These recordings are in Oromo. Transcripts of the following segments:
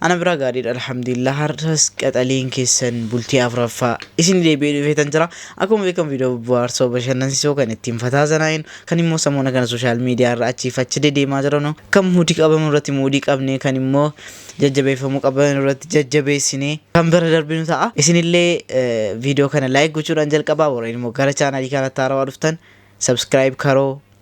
Ana biraa gaariidha alhamdulillah har'as qaxaleen keessan bultii afraffaa isin deebi'ee dhufeetan jira akkuma beekamu viidiyoo bohaarsoo bashannansiisoo kan ittiin fataa zanaa'in kan immoo samoona kana sooshaal miidiyaa irra achiif achi dedeemaa jiranu kan muudii qabamu irratti muudii qabnee kan immoo jajjabeeffamuu qaban irratti jajjabeessinee kan bira darbinu ta'a isinillee viidiyoo kana laayik gochuudhaan jalqabaa warreen immoo gara chaanaalii kanatti haarawaa dhuftan sabskiraayib karoo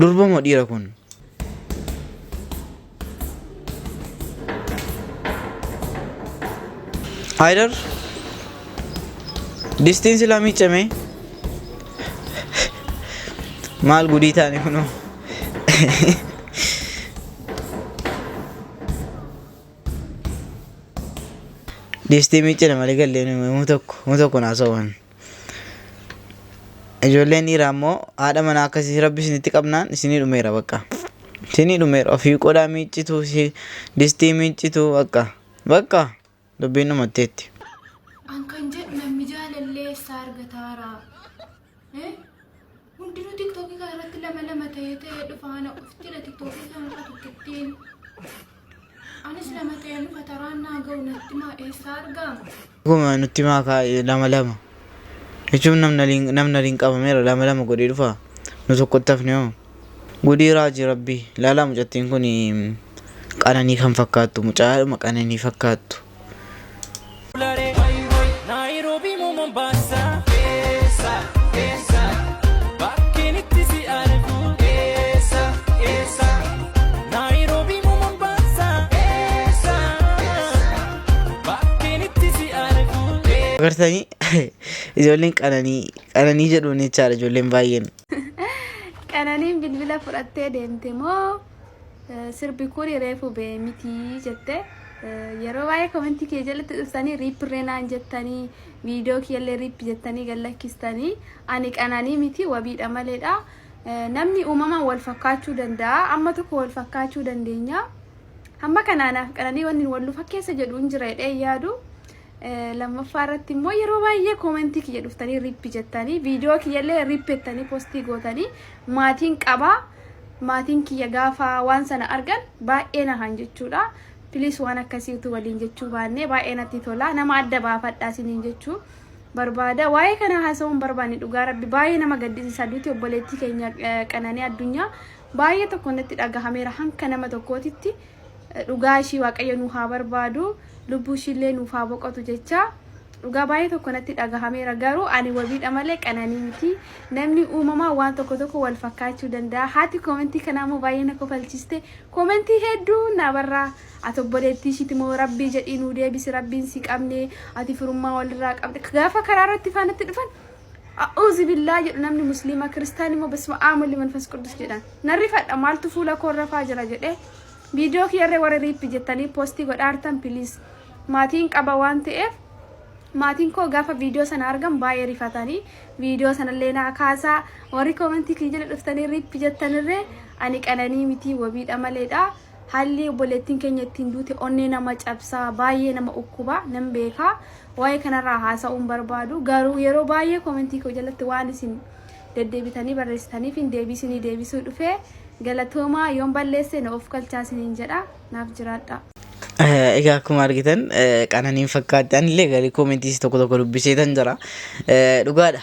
Durba moo dhiira kun? Haydar distiin silaa miicame maal gudii taane kunoo distii miicane malee gallee muu tokko muu tokko naa soban. Ijoolleen dhiiraa immoo haadha manaa akkasii rabbi isinitti qabnaan isinii dhumeera bakka. Isinii dhumeera ofii qodaa miiccitu si distii miiccitu bakka. Bakka dubbiin dhumatteetti. An kan jedhu namni jaalallee eessaa argataara? Eh? Hundinuu tiktookii kana irratti lama lama ta'ee ta'ee dhufa ana ofittidha tiktookii kana irra tokkittiin. Anis lama ta'een dhufa taraan naa ga'u natti maa eessaa argaama? Dhuguma nutti himaa kaa eh, lama lama. Jechuun namni aliin- namni aliin qabameera lama lama godhee dhufa. Nu tokkotti hafne hoo. Gudii raajii rabbii. Laalaa mucattiin kun qananii kan fakkaattu mucaadhuma qananii fakkaattu. Nairobi mo Mombasa Esa, esa Bakken itti si argu Esa, esa Nairobi mo Mombasa Esa, esa Bakken itti si argu Agartanii ijoolleen qananii qananii jedhuun jechaadha ijoolleen baay'een. Qananiin bilbila fudhattee deemte moo? Eh, sirbi kun reefu ba'e miti jette Eh, yeroo baay'ee komentii kee jalatti dhuftanii riippirree naan jettanii viidiyoo kiyyallee riippi jettanii gad lakkistanii ani qananii miti wabiidha maleedha Eh, namni uumamaan wal fakkaachuu danda'a amma tokko wal fakkaachuu dandeenya hamma kanaanaaf qananii wanni wal nu fakkeessa jedhu hin jira jedhee hin yaadu Lammaffaa irratti immoo yeroo baay'ee koomentii kiyya dhuftanii rippi jettanii viidiyoo kiyyallee rippi jettanii postii gootanii maatiin qabaa maatiin kiyya gaafa waan sana argan baay'ee nahan jechuudha. Piliis waan akkasii utuu waliin jechuu baannee baay'ee natti tola nama adda baafadhaa isiniin jechuu barbaada. Waa'ee kana haasa'uun barbaanne dhugaa rabbi baay'ee nama gaddisiisa duuti obboleettii keenya qananii addunyaa baay'ee tokko natti dhagahameera hanka nama tokkootitti. dhugaa ishii waaqayyo nuu haa barbaadu lubbuu ishiillee nuuf haa boqotu jechaa dhugaa baay'ee tokko natti dhagahameera garuu ani wabiidha malee qananii miti namni uumamaa waan tokko tokko wal fakkaachuu danda'a haati koomentii kanaa immoo baay'ee na kofalchiste koomentii hedduu naa barraa ati obboleettii ishiiti moo rabbii jedhii nuu deebisi rabbiin si qabne ati firummaa walirraa qabde gaafa karaa irratti faanatti dhufan A'uuzi billaa jedhu namni musliima kiristaan immoo bisma aamulli manfas quddus jedhan. Narri fadha maaltu fuula koo irra faa jira jedhee viidiyoo kiyyarree warri riippi jettanii poostii godhaartan piliis maatiin qaba waan ta'eef maatiin koo gaafa viidiyoo sana argan baay'ee rifatanii viidiyoo sanallee naa kaasaa warri koomentii kiyya jala dhuftanii riippi jettanirree ani qananii mitii wabiidha maleedha. Haalli obboleettiin keenya ittiin duute onnee nama cabsa, baay'ee nama ukkuba, nan beeka. Waa'ee kanarraa haasa'uu hin barbaadu. Garuu yeroo baay'ee koomentii koo jalatti waan isin deddeebitanii barreessitaniif hin deebisinii deebisuu dhufe. Galatoomaa yoon balleesse na of kalchaa isiniin jedha. Naaf jiraadha. Eh, Egaa akkuma argitan eh, qananiin fakkaatti anillee garii koomentiis tokko tokko dubbiseetan jira. Eh, Dhugaadha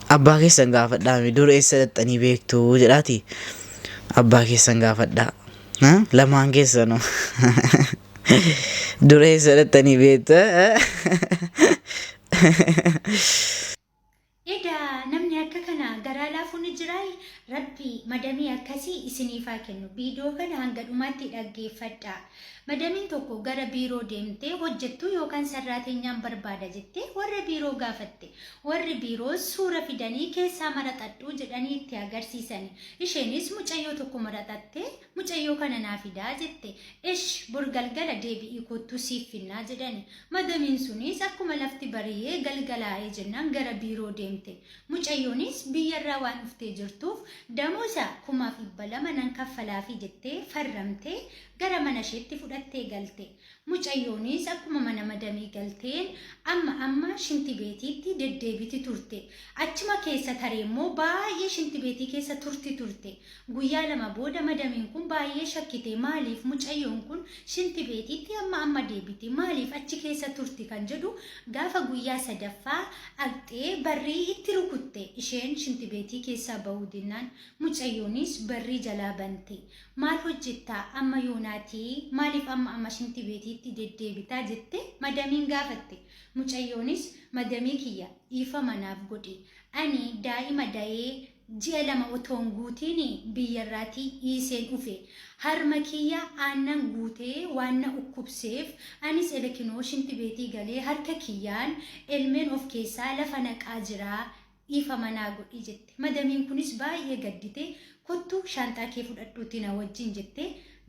Abbaa keessan gaafadhaa mee dur eessa dhaqxanii beektu jedhaati abbaa keessan gaafadhaa Ha? lamaan keessanu dur eessa dhaqxanii beektu Egaa namni akka kana garaa laafuu ni jiraa? Rabbi madamii akkasii isiniif haa kennu. Viidiyoo kana hanga dhumaatti dhaggeeffadhaa. Madamiin tokko gara biiroo deemtee hojjettuu yookaan sarraateenyaan barbaada jettee warra biiroo gaafatte. Warri biiroos suura fidanii keessaa maraxadhu jedhanii itti agarsiisani. Isheenis mucayyoo tokko maraxattee mucayyoo kana naa fidaa jette. Esh bor galgala deebi'ii koottuu siif finnaa jedhani. Madamiin sunis akkuma lafti bari'ee galgalaa'ee jennaan gara biiroo deemte. Mucayyoonis biyyarraa waan dhuftee jirtuuf damoosa kumaaf dhibba lama nan kaffalaafii jettee farramtee gara mana isheetti fudhattee galte. Mucayyoonis akkuma mana madamii galteen amma amma shinti beetiitti deddeebiti turte. Achuma keessa taree immoo baay'ee shinti beetii keessa turti turte. Guyyaa lama booda madamiin kun baay'ee shakkite maaliif mucayyoon kun shinti beetiitti amma amma deebiti maaliif achi keessa turti kan jedhu gaafa guyyaa sadaffaa agxee barrii itti rukutte isheen shinti beetii keessaa ba'uu dinnaan mucayyoonis barrii jalaa bante. Maal hojjettaa amma yoonaatii maaliif amma amma shinti beetiitti deddeebitaa jette madamiin gaafatte. Mucayyoonis madamii kiyya dhiifama naaf godhi ani daa'ima dayee ji'a lama otoon guutiin biyyarraatii dhiiseen dhufe. Harma kiyya aannan guutee waan na ukkubseef anis elekinoo shinti beetii galee harka kiyyaan elmeen of keessaa lafa naqaa jira Dhiifama naa godhi jette. Madamiin kunis baay'ee gadditee kottu shaanxaa kee fudhadhuutii na wajjin jettee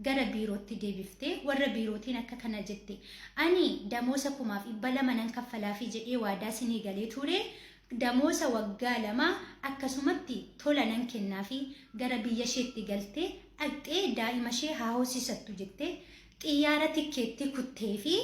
gara biirootti deebifte. Warra biirootiin akka kana jette. Ani damoosa kumaaf dhibba lama nan kaffalaafii jedhee waadaa sinii galee ture. Damoosa waggaa lamaa akkasumatti tola nan kennaafii. Gara biyya isheetti galtee dhaqxee daa'ima ishee haa hoosisattu jettee xiyyaara tikkeettii kutteefii.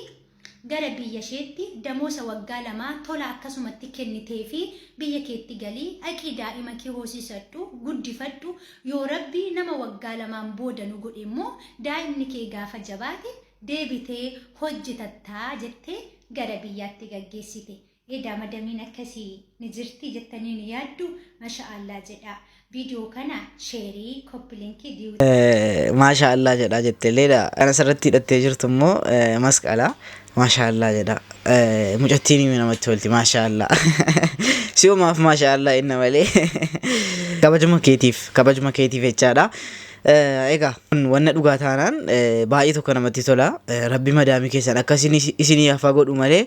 gara biyya isheetti damoosa waggaa lamaa tola akkasumatti kenniteefii biyya keetti gali dhaqii daa'ima kee hoosisadhu guddifadhu yoo rabbi nama waggaa lamaan booda nu godhe immoo daa'imni kee gaafa jabaate deebitee hojjetattaa jettee gara biyyaatti gaggeessite Edaa madamiin akkasii ni jirti jettanii ni yaaddu masha Allah jedhaa viidiyoo kana sheerii koppilinkii diyu Maashaa Allah jedhaa jette leedha. Kan asirratti hidhattee jirtu immoo eh, masqala. Maashaa Allah jedha. Eh, Mucattiin himi namatti tolti. Maashaa Allah. Si'umaaf maashaa Allah inna malee. Kabajuma keetiif, kabajuma keetiif jechaadha. Eh, Egaa kun wanna dhugaa taanaan eh, baay'ee tokko namatti tola. Eh, Rabbi madaamii keessan akka isin- isinii hafa godhu malee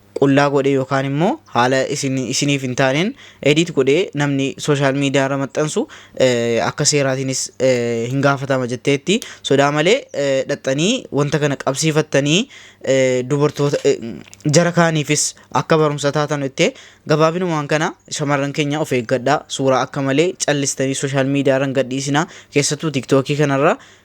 qullaa godhee yookaan immoo haala isin isiniif hin taaneen edit godhee namni social media irra maxxansu eh, akka seeraatiinis eh, hin gaafatama jetteetti sodaa malee eh, dhaxxanii wanta kana qabsiifattanii eh, dubartoota eh, jara kaaniifis akka barumsa taatan jettee gabaabinumaan kana shamarran keenya of eeggadhaa suuraa akka malee callistanii social media irra hin gadhiisinaa keessattuu tiktookii kanarra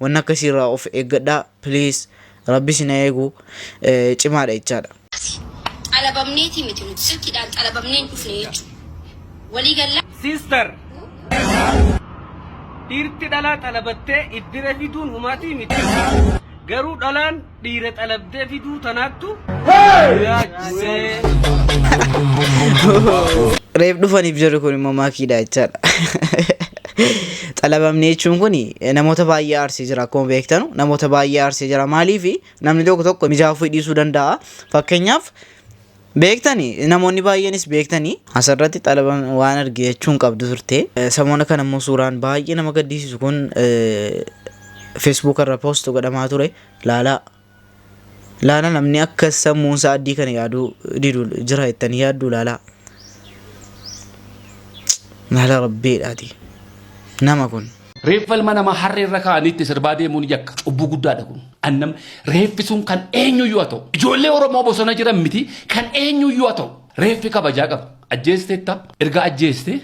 Wanni akkasii irraa of eeggadhaa please rabbi isin haa eegu cimaadha jechaadha. Akkasii xalabamneetii miti nuti silkiidhaan xalabamnee hin dhufne jechuudha. Walii gallaa? Sister dhiirti dhalaa xalabattee iddire fiduun humaatii miti garuu dhalaan dhiira xalabdee fiduu tanaattu yaachisee. Reef dhufaniif jirri kun immoo maakiidha jechaadha. Xalabamni jechuun kun namoota baay'ee aarsee jira akkuma beektanu namoota baay'ee aarsee jira maaliif namni tokko tokko mijaa'uu fedhiisuu danda'a fakkeenyaaf Beektani namoonni baay'eenis beektani. Asirratti xalaba waan arge jechuun qabdu turte. Samoona kana immoo suuraan baay'ee nama gaddisiisu kun Facebook irra post godhamaa ture. Laalaa. Laala namni akka sammuun isaa addii kana yaaduu didu jira jettanii yaadduu laalaa. Laala rabbeedhaati. Nama kun. Reeffa ilma namaa harree irra kaa'anii itti sirbaa deemuun yakka cubbuu guddaadha kun. Annam reeffi sun kan eenyuyyuu haa ta'u. Ijoollee Oromoo bosona jiran miti kan eenyuyyuu haa ta'u. Reeffi kabajaa qaba. Ajjeesteetta erga ajjeestee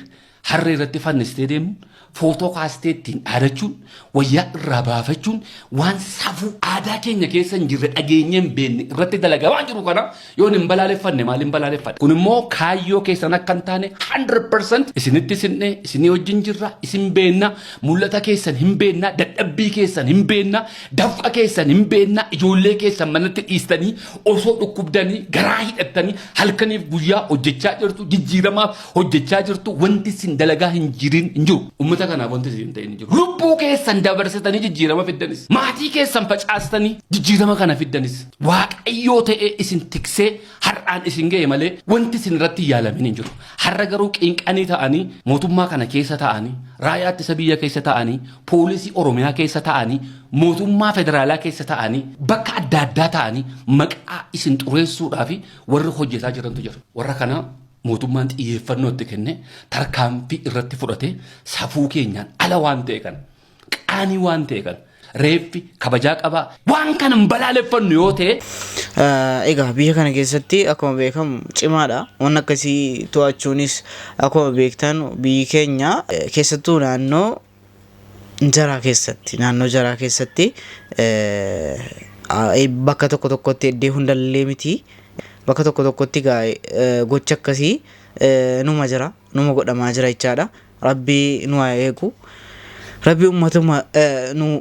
harree irratti fannistee deemuun footoo kaastee ittiin dhaadachuun wayyaa irraa baafachuun waan safuu aadaa keenya keessa hin jirre dhageenyee hin beekne irratti dalagamaa jiru kana Yoon hin balaaleffanne maal hin balaaleffadha? Kun immoo kaayyoo keessan akka hin taane 100% isinitti sinne, isinii wajjin jirra, isin beenna, mul'ata keessan hin beenna, dadhabbii keessan hin beenna, dafqa keessan hin beenna, ijoollee keessan manatti dhiistanii osoo dhukkubdanii garaa hidhattanii halkaniif guyyaa hojjechaa jirtu, jijjiiramaaf hojjechaa jirtu, wanti isin dalagaa hin jirin hin jiru. Uummata kanaaf wanti isin hin ta'in hin jiru. Lubbuu keessan dabarsitanii jijjiirama fiddanis, maatii keessan facaastanii jijjiirama kana fiddanis. Waaqayyoo ta'ee isin tiksee har'aan isin ga'e malee wanti isin irratti yaalamin hin jiru. Har'a garuu qinqanii ta'anii mootummaa kana keessa ta'anii raayaa ittisa biyya keessa ta'anii poolisii Oromiyaa keessa ta'anii mootummaa federaalaa keessa ta'anii bakka adda addaa ta'anii maqaa isin xureessuudhaa fi warri hojjetaa jirantu jira. Warra kana mootummaan xiyyeeffannoo itti kenne tarkaanfii irratti fudhatee safuu keenyaan ala waan ta'e kana Qaanii waan ta'e kana reeffi kabajaa qabaa waan kana hin balaaleffannu yoo ta'e Ah, Egaa biyya kana keessatti akkuma beekamu cimaadha. Waan akkasii to'achuunis akkuma beektan biyyi keenya eh, keessattuu naannoo jaraa keessatti naannoo jaraa keessatti eh, ah, eh, bakka tokko tokkotti iddoo hundallee miti bakka tokko tokkotti gaa eh, gocha akkasii eh, numa jira numa godhamaa jira jechaadha. Rabbii nu haa eegu. Rabbi ummatuma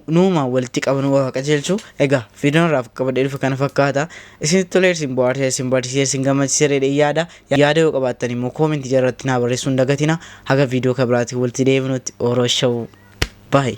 nuuma walitti qabu nu haa qajeelchu. Egaa viidiyoon irraa qabadhee dhufe kana fakkaata. Isin tolee isin bohaarse isin barsiise isin gammachiise jedhee yaada. Yaada yoo qabaattan immoo koomentii jalatti naa barreessuu hin dagatina. Haga viidiyoo kan biraatiin walitti deebinutti oroshawu. Bye.